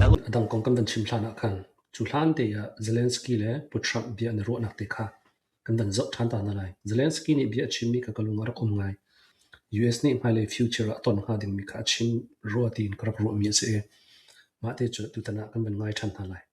A dang kong kan van chim hlan ah khan cu hlante ah Zelensky le Pu Trump bia an i ruahnak te kha kan van zoh ṭhan ta hna lai. Zelensky nih bia a chimmi kha ka lung ah rak um ngai. US nih hmailei future ah ton hnga dingmi kha a chim rua tiin ka rak ruahmi a si i, mahte cu tutan ah kan van ngai ṭhan hna lai.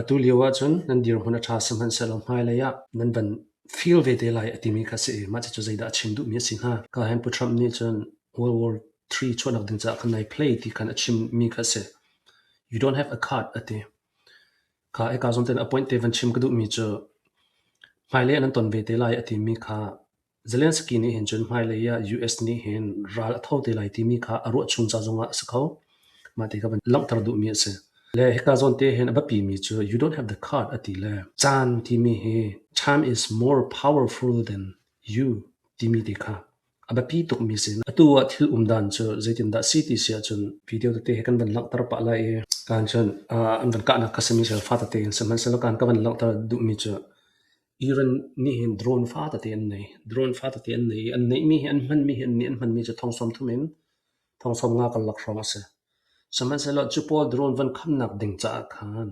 Atu lio ahcun nan dirhmun a ṭha sihmanhsehlaw hmailei ah nan van feel vete lai a timi kha si i mah cucu zeidah a chim duhmi a si hnga? Cahen Pu Trump nih cun World War III chuahnak ding caah khan nai play ti khan a chimmi kha a si. You don't have a card a ti. Kha i kaa zum tein appoint te van chim ka duhmi cu hmailei ah nan ton ve te lai a timi kha Zelensky nih hin cun hmailei ah US nih hin ral a tho te lai timi kha a ruah chung ca zongah a si kho. Mah ti kha van langhter duhmi a si. Le hika zawn te hin a biapimi cu you don't have the card a ti le caan timi hi time is more powerful than you timi te kha a biapi tukmi si. Atu ah thil um dan cu zeitindah si ti si ahcun video tete hi kan van langhter pah lai i kaan cun an van kahnak ka simi sel fa tete in sihmanhsehlaw kaan ka van langhter duhmi cu Iran nih hin drone fa tete an nei. Drone fa tete an nei i an neihmi hi, an hmanmi hi, an nih an hmanmi cu thong sawm thum in thong sawm nga kan lak hrawng a si. Sihmanhsehlaw cu pawl drone van khamnak ding caah khan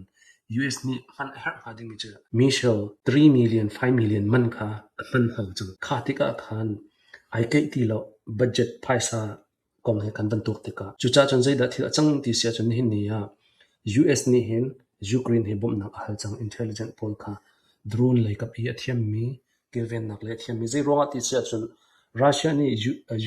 US nih hman a herh hnga dingmi cu Michelle 3 million, 5 million man kha a hman hau cang. Kha tikah khan ai keih ti lo. Budget phaisa kong he kan van tuak tikah cucah cun zeidah thil a cang ti si ahcun nihin ni ah US nih hin Ukraine hi bawmhnak a hal cang intelligent pawl kha drone leikap i a thiammi kilvennak le a thiammi zeiruangah ti si ahcun Russia nih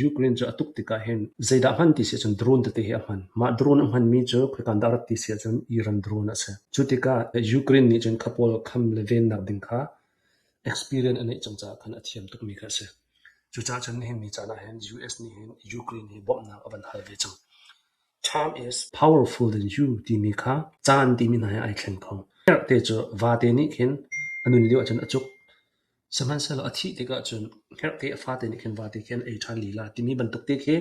Ukraine cu a tuk tikah hin zeidah hman ti si ahcun drone tete hi a hman mah drone a hmanmi cu khoikan dah rat ti si ahcun Iran drone a si cu tikah Ukraine nih cun kha pawl kham le vennak ding kha experience a neih cang caah khan a thiam tukmi kha a si. Cucaah cun nihin ni caan ah hin US nih hin Ukraine hi bawmhnak a van hal ve cang. Time is powerful than you timi kha caan timi hna he ai thleng kho. Te cu vate nih khin a nun lio ahcun a cuk. Sihmanhsehlaw a thih tikah cun herhte a fate nih khin vate khin ei ṭhan lila timi bantuk te khi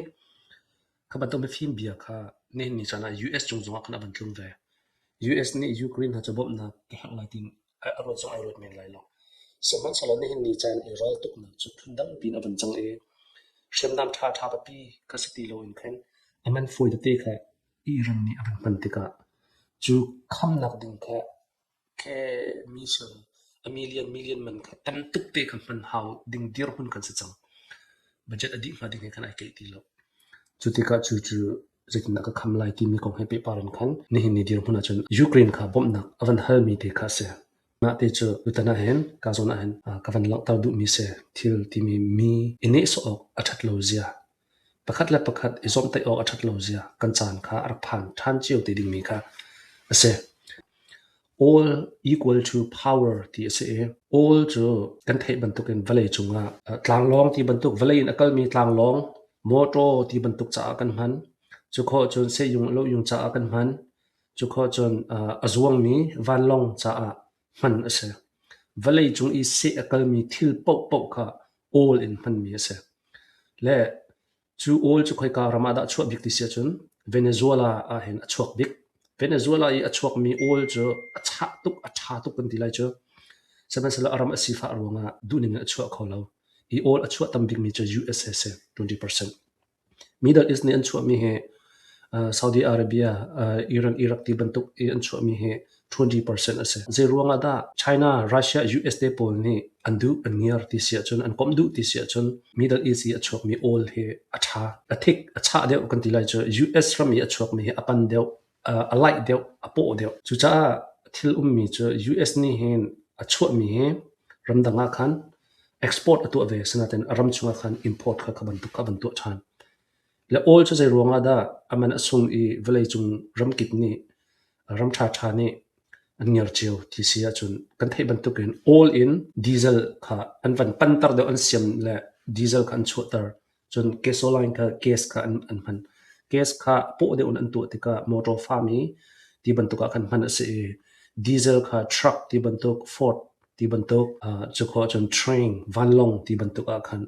kha bantuk mifim bia kha nihin ni caan ah US cung zongah khan a van tlung ve. US nih Ukraine hna cu bawmhnak ka herh lai ti a ruat zong ai ruat men lai lo. Sihmanhsehlaw nihin ni caan i rawl tuknak cu phundang piin a van cang i hriamnam ṭhaṭha papi ka si ti loin khin a man fawi tete kha Iran nih a van hman tikah cu khamnak ding kha khe million a million million man kha tam tuk te kha hman hau ding dirhmun kan si cang. Budget a dih hnga ding he khan ai keih ti lo. Cu tikah cu cu zeitindah ka kham lai timi kong he pehpar in khan nihin ni dirhmun ahcun Ukraine kha bawmhnak a van halmi te kha a si. Mah te cu tutan ahhin ka zawn ahhin ka van langhter duhmi si thil timi mi i nehsawh awk a ṭhat lo zia pakhat le pakhat i zawmhtaih awk a ṭhat lo zia kan caan kha a rak phan ṭhan cio te dingmi kha a si. All equal to power ti a si i all cu kan theih bantukin vawlei cungah tlanglawng ti bantuk vawlei in a kalmi tlanglawng mawṭaw ti bantuk caah kan hman. Cu khawh cun sehjung lohjung caah kan hman. Cu khawh cun a zuangmi vanlawng caah hman a si. Vawlei cung i seh a kalmi thil paohpaoh kha all in hmanmi a si. Le Cu awl cu khoika ram ah dah a chuah bik ti si ahcun Venezuela ah hin a chuak bik. Venezuela i a chuakmi awl cu a chah tuk, a ṭha tuk kan ti lai cu. Sihmanhsehlaw a ram a sifah ruangah duhning in a chuah kho lo. Hi awl a chuah tam bikmi cu USA si, 20%. Middle East nih an chuahmi hi uh, Saudi Arabia, uh, Iran, Iraq ti bantuk i an chuahmi hi 20 percent a si. Zeiruang ah dah China, Russia, US te pawl nih an duh an ngiar ti si ahcun an komh duh ti si ahcun Middle East i a chuakmi oil hi a tha, a thik, a chah deuh kan ti lai cu US ram i a chuakmi hi a pan deuh, a laih deuh, a paw deuh. Cucaah thil ummi cu US nih hin a chuahmi hi ramdang ah khan export a tuah ve, asinain a ram chungah khan import kha ka bantuk ka bantuah than. Le awl cu zeiruang ah dah a man a sung i vawleicung ramkip nih ram ṭhaṭha nih an ngiar cio ti si ahcun kan theih bantukin awl in diesel kha an van panter deuh an siam le diesel kha an chuahter cun gasoline kha gas kha an, an hman gas kha paw deuh in an tuah tikah motor farm i ti bantuk ah khan hman a si i diesel kha truck ti bantuk ford ti bantuk uh, cu kho cun train vanlong ti bantuk ah khan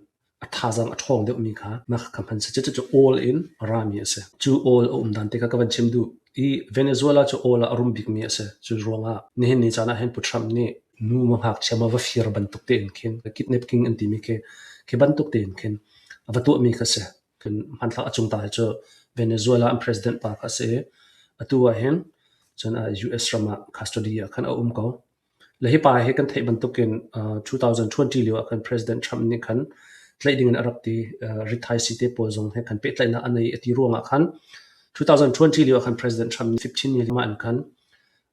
A thazaang a ṭhawng deuhmi kha na ka hman seh. Cucu awl in a rami a si. Cu awl a um dan te kha ka van chim duh. I Venezuela cu awl ah a rum bikmi a si. Cu ruangah nihin ni caan ah hin Pu Trump nih nu ma ngakchia ma va fir bantuk tein khin kidnap king an timi khi khi bantuk tein khin a va tuahmi kha si. Hmanthlak a cung ta hi cu Venezuela an president pa kha a si i atu ah hin cun US ram ah custody ah khan a um ko. Le hi pa hi kan theih bantukin uh, 2020 lio ah khan President Trump nih khan tlaih ding in a rak ti. Uh, rit thaisi te pawl zong he khan pehtlaihnak an ei a ti ruangah khan 2020 lio ah khan President Trump nih 15 year in khan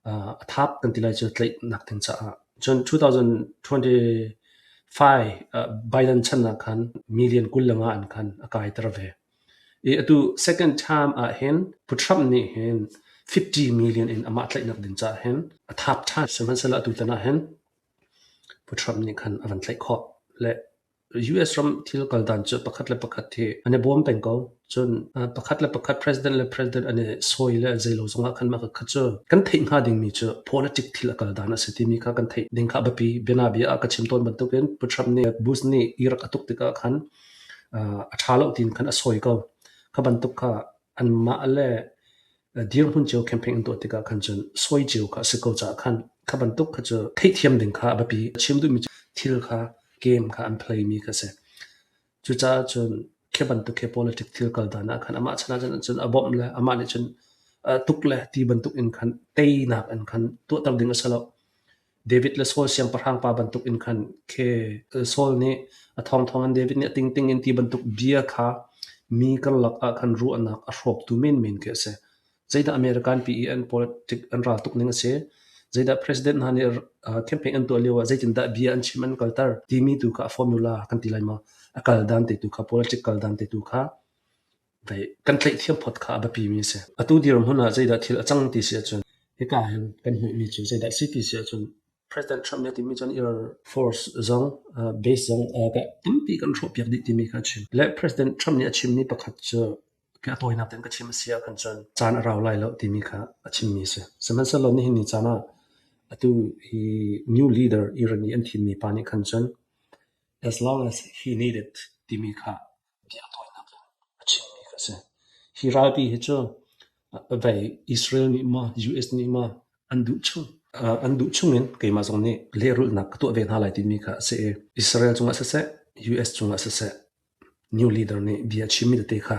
uh, a thap kan ti lai cu tlaihnak ding caah. Cun 2025 uh, Biden channak khan million kul langa an khan a kai ter ve. Atu second term ah hin Pu Trump nih hin fifty million in amah tlaihnak ding caah hin a thap ṭhan. Sihmanhsehlaw atutan ah hin Pu Trump nih khan a van tlaih khawh. Le US ram thil kal dan cu pakhat le pakhat hi an i bawm peng ko. Cun pakhat le pakhat president le president an i sawi le zei lo zongah khan mah kha cu kan theih hnga dingmi cu politic thil a kal dan a si timi kha kan theih ding kha a biapi. Bianabia ah ka chim tawn bantukin Pu Trump nih Bush nih Iraq a tuk tikah khan a ṭha loh tiin khan a sawi ko. Kha bantuk kha anmah le dirhmun cio campaign an tuah tikah khan cun sawi cio kha a si ko caah khan kha bantuk kha cu theihthiam ding kha a biapi. Chim duhmi cu thil kha game kha an playmi kha a si. Cucaah cun khi bantuk khi politic thil kal dan ah khan amah chan ah cun a bawmh le amah nih cun tuk le ti bantuk in khan teinak in khan tuahter ding a si loh. David le Saul siangpahrang pa bantuk in khan khe Saul nih a thawngthawng in David nih a tingting in ti bantuk bia kha mi karlak ah khan ruahnak a hrawktu menmen khi a si. Zeidah American pi i an politic an ral tuk ning a si? Zeidah president hna nih campaign an tuah lio ah zeitindah bia an chim an kalter timi tu kha a formula kan ti lai maw? A kal dan te tu kha, political dan te tu kha. kan tleihthiam phot kha a biapimi a si. Atu dirhmun ah zeidah thil a cang ti si ahcun hika hin kan hmuhmi cu zeidah a si ti si ahcun President Trump nih a timi cun Air Force zong base zong tampi kan hrawhpiak dih timi kha a chim. Le President Trump nih a chimmi pakhat cu ka tawinak tein ka chim a si ahkhan cun caan a rau lai lo timi kha a chimmi a si. Sihmanhsehlaw nihin ni caan ah atu hi new leader Iran i an thimmi pa nih khan cun as long as he need it timi kha bia tawinak in a chimmi kha a si. Hi ralpi hi cu vei Israel nih maw US nih maw an duh chung an duh chungin keimah zong nih lehrulhnak ka tuah ve hna lai timi kha a si i Israel cungah siseh US cungah siseh new leader nih bia a chimmi tete kha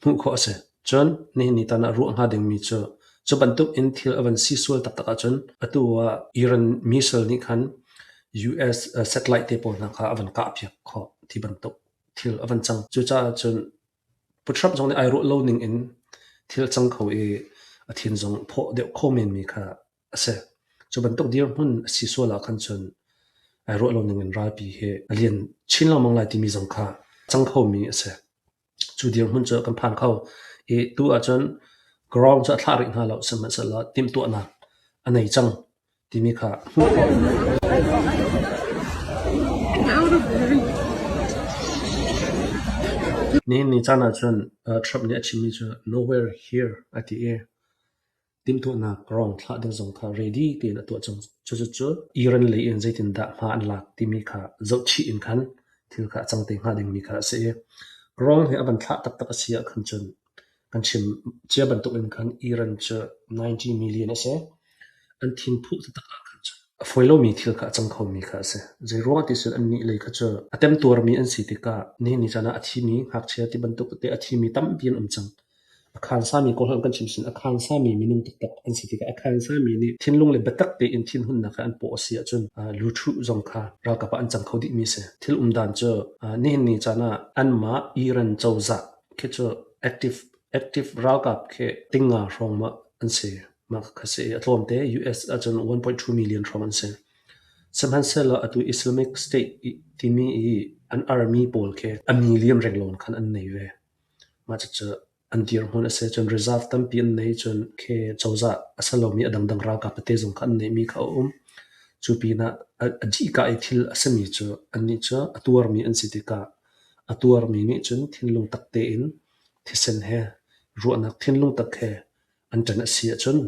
hmuh khawh a si. Cun nihin ni tan ah ruah hnga dingmi cu cu bantukin thil a van si sual taktak ahcun atu ah Iran missile nih khan US satellite te pawl hna kha a van kahpiak khawh ti bantuk. thil a van cang. Cucaah cun Putrap zong nih ai ruah lo ning in thil a cang kho i a thin zong phaw deuh kho menmi kha a si. Cu bantuk dirhmun a si sual ah khan cun ai ruah lo ning in ralpi hi a lian chin lengmang lai timi zong kha cang khomi a si. Cu dirhmun cu kan phan kho i tu ahcun ground cu a thlah rih hna lo, sihmanhsehlaw timhtuahnak a nei cang. Timi kha hmuh awk Nihin ni caan ahcun Trump nih a chimmi cu Nowhere here a ti i timhtuahnak rawng thlah ding zong kha ready tein a tuah cang. Cucu Iran lei in zeitindah hma an lak timi kha zohchih in khan thil kha a cang te hnga dingmi kha a si i rawng hi a van thlah taktak a si ahkhan cun Kan chim cia bantukin khan Iran cu 90 million a si. An thinphuh taktak ahkhan cu a fawi lomi thil kha a cang khomi kha a si. Zeiruangah ti cun annih lei kha cu a temtuarmi an si tikah nihin ni caan ah a thimi ngakchia ti bantuk te a thimi tampi an um cang. A khansami kong hlah in kan chim sin, a khansami minung taktak an si tikah a khansami nih thinlung le biatak tein thinhunnak kha an paw a si ahcun luthu zong kha ralkap ah an cang kho dihmi a si. Thil um dan cu nihin ni caan ah anmah Iran cozah Khi cu active ralkap khi ting nga hrawng mah an si. Mah kha si a tlawmte US ahcun 1.2 million hrawng an si. Sihmanhsehlaw atu Islamic State timi i an army pawl khi a million renglon khan an nei ve. Mah cucu an dirhmun a si cun reserve tampi an nei cun khi cozah a si lomi a dangdang ralkap te zong kha an neihmi kha a um. Cu pinah a dihka i thil a simi cu annih cu a tuarmi an si tikah A tuarmi nih cun thinlung tak tein thisen he, ruahnak thinlung tak he an ṭan a si ahcun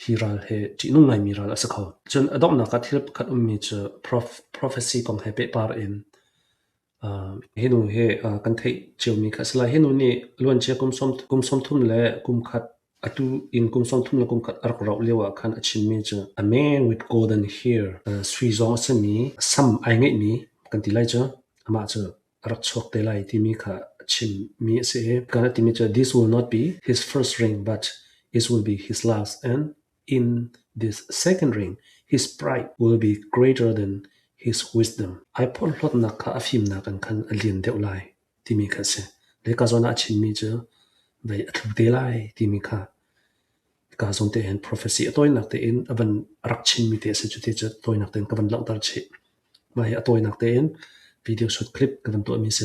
hi ral hi ṭihnung ngaimi ral a si kho. Cun a donghnak ah thil pakhat ummi cu prophecy kong he pehpar in hi nu hi kan theih ciomi kha a si lai. Hi nu nih luancia kum sawm thum le kum khat Atu inn kum sawmthum le kumkhat a rak rauh lioah khan a chimmi cu a man with gold and here sui zong a simi sam ai ngeihmi kan ti lai cu amah cu a rak chuak te lai timi kha a chimmi a si i kan a timi cu this will not be his first ring but it will be his last and in this second ring his pride will be greater than his wisdom ai phorhlotnak kha a fimnak in khan a lian deuh lai. timi kha a si. Lehkazawn ah a chimmi cu vei a tlu te lai timi kha ka zawn tein prophecy a tawinak tein a van rak chimmi te a si cu ti cu tawinak tein ka van langhter chih. Mah hi a tawinak tein video shoot clip ka van tuahmi si.